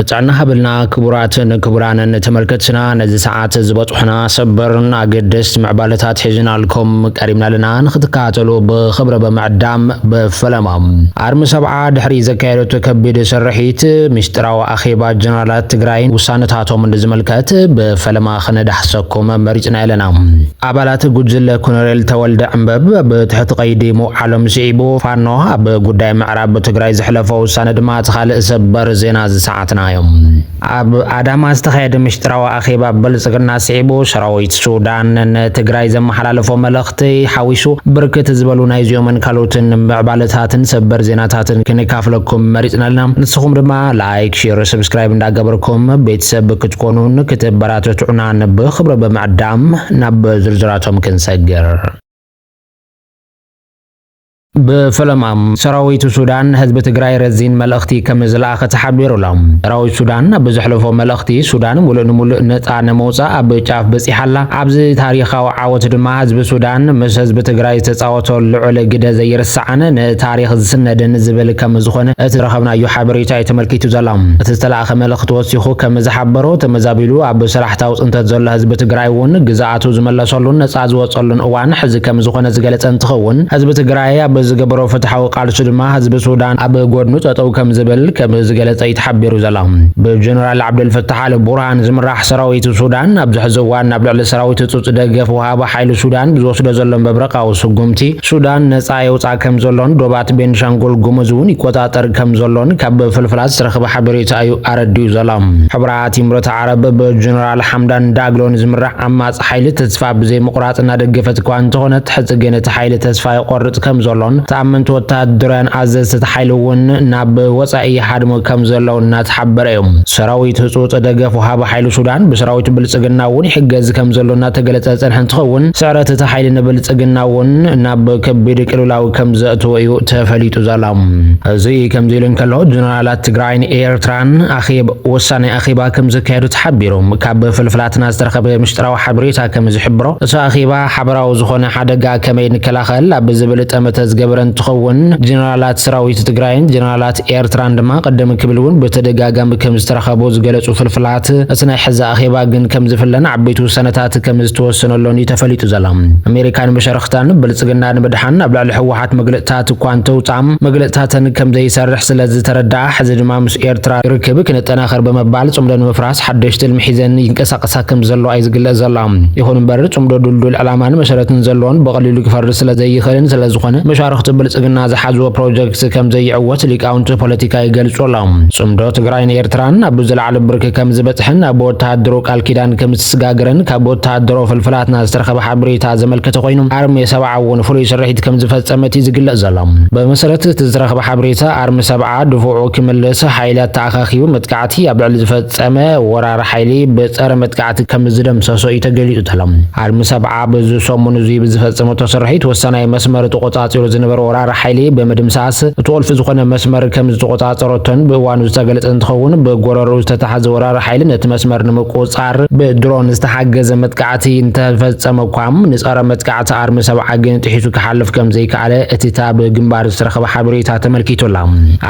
ጥዕና ሃበልና ክቡራትን ክቡራንን ተመልከትና ነዚ ሰዓት ዝበጽሑና ሰበርን ኣገደስቲ ምዕባለታት ሒዝናልኩም ቀሪብና ኣለና ንክትከታተሉ ብክብረ ብምዕዳም ብፈለማ ኣርሚ ሰብዓ ድሕሪ ዘካየደቶ ከቢድ ስርሒት ምስጢራዊ ኣኼባ ጀነራላት ትግራይን ውሳነታቶም ንዝምልከት ብፈለማ ክነዳሕሰኩም መሪጽና ኣለና ኣባላት ጉጅለ ኮሎኔል ተወልደ ዕንበብ ብትሕቲ ቀይዲ ምውዓሎም ስዒቡ ፋኖ ኣብ ጉዳይ ምዕራብ ትግራይ ዘሕለፎ ውሳነ ድማ እቲ ካልእ ሰበር ዜና እዚ ሰዓትና እዮም። ኣብ ኣዳማ ዝተኻየደ ምሽጥራዊ ኣኼባ ብልፅግና ስዒቡ ሰራዊት ሱዳን ንትግራይ ዘመሓላለፎ መልእኽቲ ሓዊሱ ብርክት ዝበሉ ናይዚኦምን ካልኦትን ምዕባለታትን ሰበር ዜናታትን ክንካፍለኩም መሪፅና ኣለና። ንስኹም ድማ ላይክ፣ ሼር፣ ሰብስክራይብ እንዳገበርኩም ቤተሰብ ክትኮኑን ክተበራተትዑናን ብኽብሪ ብምዕዳም ናብ ዝርዝራቶም ክንሰግር። ብፍለማ ሰራዊት ሱዳን ንህዝቢ ትግራይ ረዚን መልእኽቲ ከምዝለኣኸ ተሓቢሩ ኣሎ። ሰራዊት ሱዳን ኣብ ዘሕለፎ መልእኽቲ፣ ሱዳን ሙሉእ ንሙሉእ ነፃ ንምውፃእ ኣብ ጫፍ በፂሓ ኣላ፣ ኣብዚ ታሪኻዊ ዓወት ድማ ህዝቢ ሱዳን ምስ ህዝቢ ትግራይ ዝተፃወቶ ልዑል ግደ ዘይርሳዕን ንታሪኽ ዝስነድን ዝብል ከምዝኾነ እቲ ዝረኸብናዮ ሓበሬታ እዩ ተመልኪቱ ዘሎ። እቲ ዝተለኣኸ መልእኽቲ ወሲኹ ከምዝሓበሮ፣ ተመዛቢሉ ኣብ ሰላሕታዊ ፅንተት ዘሎ ህዝቢ ትግራይ እውን ግዝኣ ሕቶታቱ ዝመለሰሉን ነፃ ዝወፀሉን እዋን ሕዚ ከምዝኾነ ዝገለፀ እንትኸውን፣ ህዝቢ ትግራይ ኣብ ዝገበሮ ፍትሓዊ ቃልሱ ድማ ህዝቢ ሱዳን ኣብ ጎድኑ ጠጠው ከምዝብል ከምዝገለፀ እዩ ተሓቢሩ ዘሎ። ብጀነራል ዓብደልፈታሕ ኣል ቡርሃን ዝምራሕ ሰራዊት ሱዳን ኣብዚ ሕዚ እዋን ናብ ልዕሊ ሰራዊት ህፁፅ ደገፍ ወሃቢ ሓይሊ ሱዳን ብዝወስዶ ዘሎ መብረቓዊ ስጉምቲ ሱዳን ነፃ የውፅኣ ከምዘሎን ዶባት ቤንሻንጉል ጉሙዝ እውን ይቆፃፀር ከምዘሎን ካብ ፍልፍላት ዝተረኽበ ሓበሬታ እዩ ኣረዲኡ ዘሎ። እቲ ምረት ዓረብ ብጀነራል ሓምዳን ዳግሎን ዝምራሕ ዓማጺ ሓይሊ ተስፋ ብዘይምቑራጽ እናደገፈት እኳ እንተኾነት ሕዚ ግን እቲ ሓይሊ ተስፋ ይቖርጽ ከምዘሎን ተኣመንቲ ወተሃደራውያን ኣዘዝቲ እቲ ሓይሊ እውን ናብ ወጻኢ ይሃድሙ ከምዘለው እናተሓበረ እዩ። ሰራዊት ህጹጽ ደገፍ ወሃቢ ሓይሊ ሱዳን ብሰራዊት ብልጽግና እውን ይሕገዝ ከምዘሎ እናተገለጸ ዝጸንሐ እንትኸውን ስዕረት እቲ ሓይሊ ንብልጽግና እውን ናብ ከቢድ ቅልውላው ከምዘእትዎ እዩ ተፈሊጡ ዘሎ። እዚ ከምዚ ኢሉ እንከሎ ጀነራላት ትግራይን ኤርትራን ኣኼብ ወሳኒ ኣኼባ ከም ዘካየዱ ተሓቢሩ። ካብ ፍልፍላትና ዝተረኸበ ምስጢራዊ ሓበሬታ ከም ዝሕብሮ፣ እቲ ኣኼባ ሓበራዊ ዝኾነ ሓደጋ ከመይ ንከላኸል ኣብ ዝብል ጠመተ ዝገበረ እንትኸውን፣ ጀነራላት ሰራዊት ትግራይን ጀነራላት ኤርትራን ድማ ቅድም ክብል እውን ብተደጋጋሚ ከም ዝተረኸቡ ዝገለፁ ፍልፍላት፣ እቲ ናይ ሕዚ ኣኼባ ግን ከም ዝፍለን ዓበይቲ ውሳነታት ከም ዝተወሰነሎን እዩ ተፈሊጡ ዘሎ። ኣሜሪካን መሻርኽታን ብልፅግና ንምድሓን ኣብ ልዕሊ ህወሓት ብዙሓት መግለፅታት እኳ እንተውፅኣ መግለፅታተን ከምዘይሰርሕ ስለዝተረድኣ ሕዚ ድማ ምስ ኤርትራ ርክብ ክነጠናኽር ብምባል ፅምዶ ንምፍራስ ሓዱሽ ትልሚ ሒዘን ይንቀሳቐሳ ከምዘለዋ እዩ ዝግለፅ ዘሎ። ይኹን እምበር ፅምዶ ድልዱል ዕላማን መሰረትን ዘለዎን ብቐሊሉ ክፈርስ ስለዘይኽእልን ስለዝኾነ መሻርኽቲ ብልፅግና ዝሓዝዎ ፕሮጀክት ከምዘይዕወት ሊቃውንቲ ፖለቲካ ይገልፁ ኣለው። ፅምዶ ትግራይን ኤርትራን ኣብ ዝለዓለ ብርኪ ከምዝበፅሐን ኣብ ወተሃደሮ ቃል ኪዳን ከምዝተስጋገረን ካብ ወተሃደሮ ፍልፍላትና ዝተረኸበ ሓበሬታ ዘመልከተ ኮይኑ ኣርሜ ሰብዓ እውን ፍሉይ ስርሒት ከምዝፈፀመት እዩ ዝግለፅ ዘሎ። ብመሰረት እቲ ዝተረኽበ ሓበሬታ ኣርሚ ሰብዓ ድፍዑ ክምልስ ሓይሊ ኣተኣኻኺቡ መጥቃዕቲ ኣብ ልዕሊ ዝፈፀመ ወራሪ ሓይሊ ብፀረ መጥቃዕቲ ከምዝደምሰሶ እዩ ተገሊፁ ዘሎ። ኣርሚ ሰብዓ በዚ ሰሙን እዙይ ብዝፈፀመቶ ስርሒት ወሳናይ መስመር ተቖፃፂሩ ዝነበረ ወራሪ ሓይሊ ብምድምሳስ እቲ ቁልፊ ዝኾነ መስመር ከምዝተቖፃፀረቶን ብእዋኑ ዝተገለፀ እንትኸውን ብጎረርኡ ዝተታሓዘ ወራሪ ሓይሊ ነቲ መስመር ንምቁፅፃር ብድሮን ዝተሓገዘ መጥቃዕቲ እንተፈፀመ እኳ ንፀረ መጥቃዕቲ እቲ ኣርሚ ሰብዓ ግን ጥሒሱ ክሓልፍ ከም ዘይከኣለ እቲ ታብ ግንባር ዝተረኸበ ሓበሬታ ተመልኪቱላ።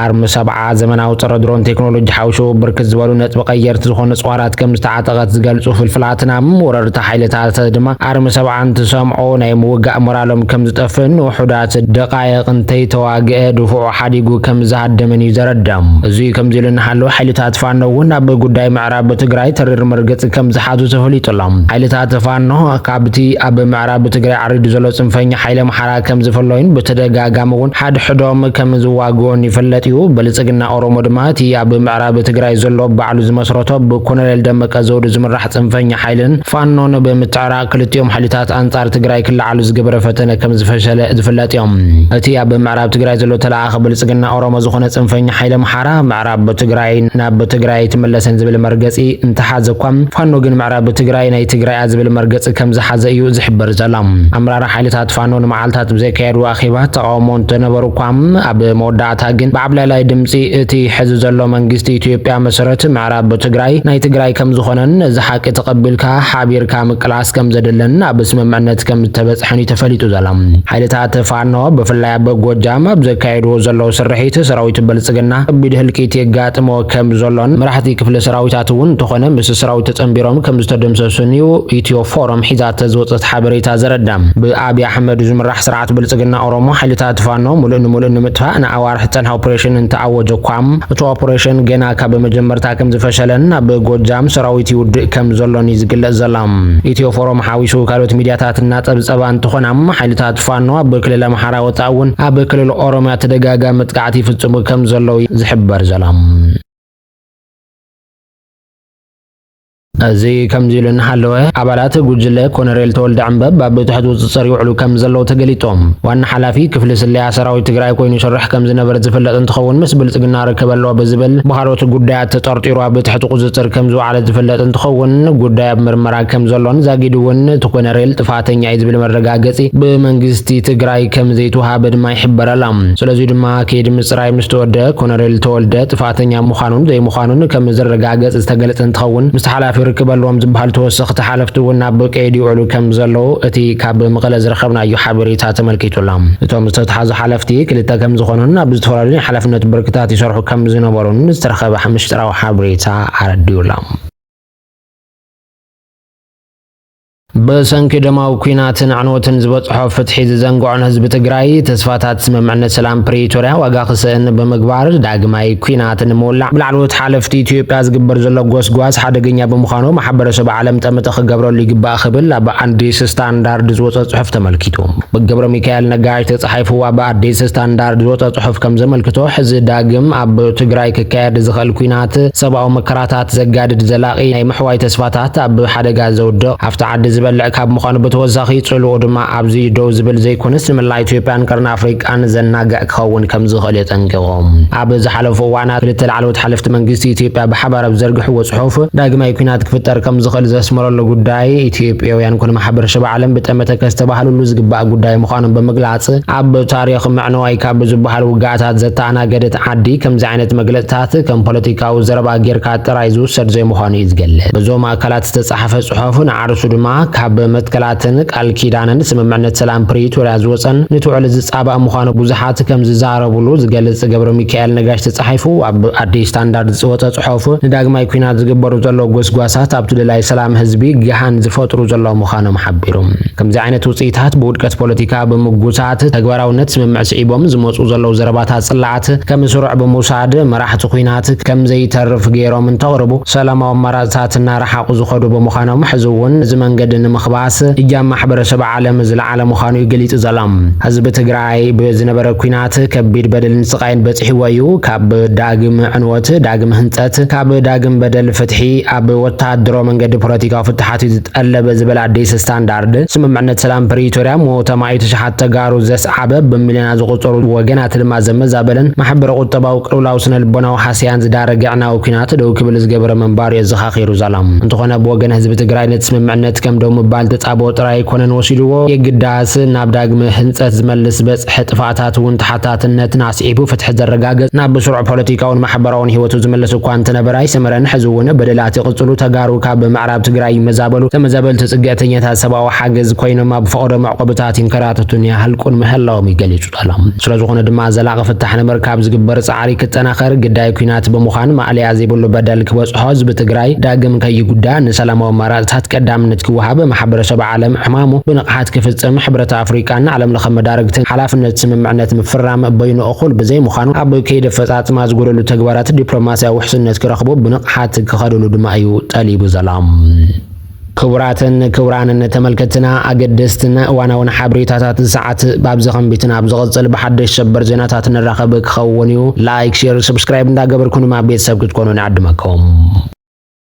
ኣርሚ ሰብዓ ዘመናዊ ጸረ ድሮን ቴክኖሎጂ ሓውሹ ብርክት ዝበሉ ነጥቢ ቀየርቲ ዝኾኑ ጽዋራት ከም ዝተዓጠቐት ዝገልጹ ፍልፍላትና፣ ወረርቲ ሓይልታት ድማ ኣርሚ ሰብዓ እንትሰምዑ ናይ ምውጋእ ሞራሎም ከም ዝጠፍእን ንውሑዳት ደቓይቕ እንተይተዋግኤ ድፉዑ ሓዲጉ ከም ዝሃደምን እዩ ዘረድእ። እዙይ ከምዚሉ እናሃለወ ሓይልታት ፋኖ እውን ኣብ ጉዳይ ምዕራብ ኣብ ትግራይ ተሪር መርገፂ ከምዝሓዙ ተፈሊጡ ኣሎ። ሓይልታት ፋኖ ካብቲ ኣብ ምዕራብ ትግራይ ዓሪዱ ዘሎ ፅንፈኛ ሓይሊ ኣምሓራ ከምዝፍለዩን ብተደጋጋሚ እውን ሓድሕዶም ከምዝዋግኡን ይፍለጥ እዩ። ብልፅግና ኦሮሞ ድማ እቲ ኣብ ምዕራብ ትግራይ ዘሎ ባዕሉ ዝመስረቶ ብኮሎኔል ደመቀ ዘውዱ ዝምራሕ ፅንፈኛ ሓይልን ፋኖን ብምትዕራቕ ክልቲኦም ሓይልታት ኣንፃር ትግራይ ክለዓሉ ዝገበረ ፈተነ ከምዝፈሸለ ዝፍለጥ እዩ። እቲ ኣብ ምዕራብ ትግራይ ዘሎ ተለኣኣኺ ብልፅግና ኦሮሞ ዝኾነ ፅንፈኛ ሓይሊ ኣምሓራ ናብ ትግራይ ናብ ትግራይ ኣይትመለስን ዝብል መርገፂ እንተሓዘ እኳ ፋኖ ግን ምዕራብ ትግራይ ናይ ትግራያ ዝብል መርገፂ ከምዝሓዘ እዩ ዝሕበር ዘሎ። ኣመራርሓ ሓይልታት ፋኖ ንመዓልታት ብዘካየዱ ኣኼባ ተቃውሞ እንተነበሩ እኳ ኣብ መወዳእታ ግን ብዓብላላይ ድምፂ እቲ ሕዚ ዘሎ መንግስቲ ኢትዮጵያ መሰረት ምዕራብ ትግራይ ናይ ትግራይ ከምዝኾነን ነዚ ሓቂ ተቐቢልካ ሓቢርካ ምቅላስ ከምዘድልን ኣብ ስምምዕነት ከምዝተበፅሐን እዩ ተፈሊጡ ዘሎ። ሓይልታት ፋኖ ብፍላይ ኣብ ጎጃም ኣብ ዘካየድዎ ዘለዉ ስርሒት ሰራዊት ብልፅግና ከቢድ ህልቂት የጋጥሞ ከም ዘሎን መራሕቲ ክፍለ ሰራዊታት እውን እንተኾነ ምስ ሰራዊት ተፀንቢሮም ከም ዝተደምሰሱን እዩ ኢትዮ ፎረም ሒዛተ ዝወፀት ሓበሬታ ዘረዳ። ብኣብይ ኣሕመድ ዝምራሕ ስርዓት ብልፅግና ኦሮሞ ሓይልታት ፋኖ ሙሉእ ንሙሉእ ንምጥፋእ ንኣዋርሕ ዝፀንሐ ኦፕሬሽን እንተኣወጀ እኳ እቲ ኦፕሬሽን ገና ካብ መጀመርታ ከም ዝፈሸለን ኣብ ጎጃም ሰራዊት ይውድእ ከም ዘሎን እዩ ዝግለፅ ዘሎ። ኢትዮ ፎረም ሓዊሱ ካልኦት ሚድያታት እናፀብፀባ እንትኾና ሓይልታት ፋኖ ኣብ ክልል ኣምሓራ ወፃኢ እውን ኣብ ክልል ኦሮሚያ ተደጋጋሚ መጥቃዕቲ ይፍፅሙ ከም ዘለዉ ዝሕበር ዘሎ። እዚ ከምዚ ኢሉ እናሃለወ ኣባላት ጉጅለ ኮነሬል ተወልደ ዕምበብ ኣብ ትሕቲ ቁፅፅር ይውዕሉ ከም ዘለዉ ተገሊፆም ዋና ሓላፊ ክፍሊ ስለያ ሰራዊት ትግራይ ኮይኑ ይሰርሕ ከም ዝነበረ ዝፍለጥ እንትኸውን ምስ ብልፅግና ርክብ ኣለዎ ብዝብል ብካልኦት ጉዳያት ተጠርጢሩ ኣብ ትሕቲ ቁፅፅር ከም ዝወዓለ ዝፍለጥ እንትኸውን ጉዳይ ኣብ ምርመራ ከም ዘሎን ዛጊድ እውን እቲ ኮነሬል ጥፋተኛ እዩ ዝብል መረጋገጺ ብመንግስቲ ትግራይ ከምዘይተውሃበ ድማ ይሕበር ኣሎ። ስለዙይ ድማ ከይዲ ምፅራይ ምስ ተወድአ ኮነሬል ተወልደ ጥፍኣተኛ ምዃኑን ዘይምዃኑን ከምዝረጋገፅ ዝተገለፀ እንትኸውን ምስቲ ሓላፊ ርክብ ኣለዎም ዝበሃሉ ተወሰኽቲ ሓለፍቲ እውን ናብ ቀይዲ ይውዕሉ ከምዘለዉ እቲ ካብ መቐለ ዝረኸብናዮ ሓበሬታ ተመልኪቱ ኣሎ። እቶም ዝተትሓዙ ሓለፍቲ ክልተ ከምዝኾኑን ኣብ ዝተፈላለዩ ናይ ሓላፍነት ብርክታት ይሰርሑ ከምዝነበሩን ዝተረኸበ ምሽጥራዊ ሓበሬታ ኣረዲኡ ኣሎ። ብሰንኪ ደማዊ ኲናትን ኣዕንወትን ዝበፅሖ ፍትሒ ዝዘንግዖን ህዝቢ ትግራይ ተስፋታት ስምምዕነት ሰላም ፕሪቶርያ ዋጋ ክስእን ብምግባር ዳግማይ ኲናት ንምውላዕ ብላዕለዎት ሓለፍቲ ኢትዮጵያ ዝግበር ዘሎ ጎስጓስ ሓደገኛ ብምዃኑ ማሕበረሰብ ዓለም ጠመተ ክገብረሉ ይግባእ ክብል ኣብ ኣዲስ ስታንዳርድ ዝወፀ ፅሑፍ ተመልኪቱ። ብገብረሚካኤል ነጋሽ ተፃሒፉ ኣብ ኣዲስ ስታንዳርድ ዝወፀ ፅሑፍ ከም ዘመልክቶ ሕዚ ዳግም ኣብ ትግራይ ክካየድ ዝኽእል ኲናት ሰብኣዊ መከራታት ዘጋድድ ዘላቒ ናይ ምሕዋይ ተስፋታት ኣብ ሓደጋ ዘውድቕ ሃፍቲ ዓዲ ዝበልዕ ካብ ምዃኑ ብተወሳኺ ጽልኡ ድማ ኣብዚ ደው ዝብል ዘይኮነስ ንመላ ኢትዮጵያን ቀርኒ ኣፍሪቃን ዘናግዕ ክኸውን ከም ዝኽእል የጠንቂቖም። ኣብ ዝሓለፉ እዋናት ክልተ ላዕለዎት ሓለፍቲ መንግስቲ ኢትዮጵያ ብሓባር ኣብ ዝዘርግሕዎ ጽሑፍ ዳግማይ ኲናት ክፍጠር ከም ዝኽእል ዘስመረሉ ጉዳይ ኢትዮጵያውያን ኮነ ማሕበረሰብ ዓለም ብጠመተ ከስተባህልሉ ዝግባእ ጉዳይ ምዃኑ ብምግላጽ ኣብ ታሪኽ ምዕንዋይ ካብ ዝበሃሉ ውግኣታት ዘተኣናገደት ዓዲ ከምዚ ዓይነት መግለጽታት ከም ፖለቲካ ካብ ዘረባ ጌርካ ጥራይ ዝውሰድ ዘይምዃኑ እዩ ዝገልጽ። በዞም ኣካላት ዝተጻሕፈ ጽሑፍ ንዓርሱ ድማ ካብ መትከላትን ቃል ኪዳንን ስምምዕነት ሰላም ፕሪቶርያ ዝወጸን ንትውዕል ዝጻባእ ምዃኑ ብዙሓት ከም ዝዛረብሉ ዝገልጽ ገብረሚካኤል ነጋሽ ተጻሒፉ ኣብ ኣዲስ ስታንዳርድ ዝወጸ ጽሑፍ ንዳግማይ ኲናት ዝግበሩ ዘለዉ ጎስጓሳት ኣብቲ ደላይ ሰላም ህዝቢ ገሃን ዝፈጥሩ ዘለዉ ምዃኖም ሓቢሩ። ከምዚ ዓይነት ውጽኢታት ብውድቀት ፖለቲካ ብምጉታት ተግባራውነት ስምምዕ ስዒቦም ዝመጹ ዘለዉ ዘረባታት ጽላኣት ኵናት ከም ስሩዕ ብምውሳድ መራሕቲ ኵናት ከም ዘይተርፍ ገይሮም እንተቕርቡ ሰላማዊ ኣማራፅታት እናረሓቑ ዝኸዱ ብምዃኖም ሕዚ እውን እዚ መንገዲ ንምኽባስ እጃም ማሕበረሰብ ዓለም ዝለዓለ ምዃኑ እዩ ገሊፁ ዘሎ። ህዝቢ ትግራይ ብዝነበረ ኵናት ከቢድ በደልን ስቓይን በፂሕዎ እዩ። ካብ ዳግም ዕንወት ዳግም ህንፀት፣ ካብ ዳግም በደል ፍትሒ ኣብ ወታደራዊ መንገዲ ፖለቲካዊ ፍታሓት እዩ ዝጠለብ ዝበለ ኣዲስ ስታንዳርድ ስምምዕነት ሰላም ፕሪቶሪያ ሞት ኣማኢት ኣሽሓት ተጋሩ ዘስዓበ፣ ብሚልዮናት ዝቑጸሩ ወገናት ድማ ዘመዛበለን፣ ማሕበረ ቁጠባዊ፣ ቅልውላው ስነ ልቦናዊ ሃሰያን ዝዳረገ ኣዕናዊ ኲናት ደው ክብል ዝገበረ ምንባሩ የዘኻኺሩ ዛላ። እንተኾነ ብወገን ህዝቢ ትግራይ ነቲ ስምምዕነት ከም ደው ምባል ተጻብኦ ጥራይ ኣይኮነን ወሲድዎ፣ የግዳስ ናብ ዳግመ ህንጸት ዝመልስ ዝበጽሐ ጥፍኣታት እውን ተሓታትነትን ኣስዒቡ ፍትሒ ዘረጋገጽ ናብ ብስሩዕ ፖለቲካውን ማሕበራውን ህይወቱ ዝምልስ እኳ እንተነበረ ኣይሰመረን፣ ሕዚ እውን በደላት ይቕጽሉ፣ ተጋሩ ካብ ናብ ትግራይ ይመዛበሉ፣ ተመዛበልቲ ፅግዕተኛታት ሰብኣዊ ሓገዝ ኮይኖም ኣብ ፈቐዶ መዕቆብታት ይንከራተቱን ይሃልቁን ምህላዎም እዩ ገሊፁ ዘሎ። ስለዝኾነ ድማ ዘላቒ ፍታሕ ንምርካብ ዝግበር ፃዕሪ ክጠናኸር፣ ግዳይ ኲናት ብምዃን ማእለያ ዘይብሉ በደል ክበፅሖ ህዝቢ ትግራይ ዳግም ከይጉዳእ ንሰላማዊ ኣማራፅታት ቀዳምነት ክወሃብ ማሕበረሰብ ዓለም ዕማሙ ብንቕሓት ክፍፅም ሕብረት ኣፍሪቃን ዓለም ለኸ መዳርግትን ሓላፍነት ስምምዕነት ምፍራም በይኑ እኹል ብዘይምዃኑ ኣብ ከይዲ ኣፈፃፅማ ዝጎደሉ ተግባራት ዲፕሎማሲያዊ ውሕስነት ክረኽቡ ብንቕሓት ሓት ክኸዱሉ ድማ እዩ ጠሊቡ ዘሎም። ክቡራትን ክቡራንን ተመልከትና ኣገደስትን እዋናውን ሓበሬታታት ሰዓት ባብዚ ከምቢትን ኣብ ዝቕጽል ብሓደሽ ሰበር ዜናታት ንራኸብ ክኸውን እዩ። ላይክ፣ ሼር፣ ሰብስክራይብ እንዳገበርኩን ድማ ቤተሰብ ክትኮኑ ንዕድመኩም።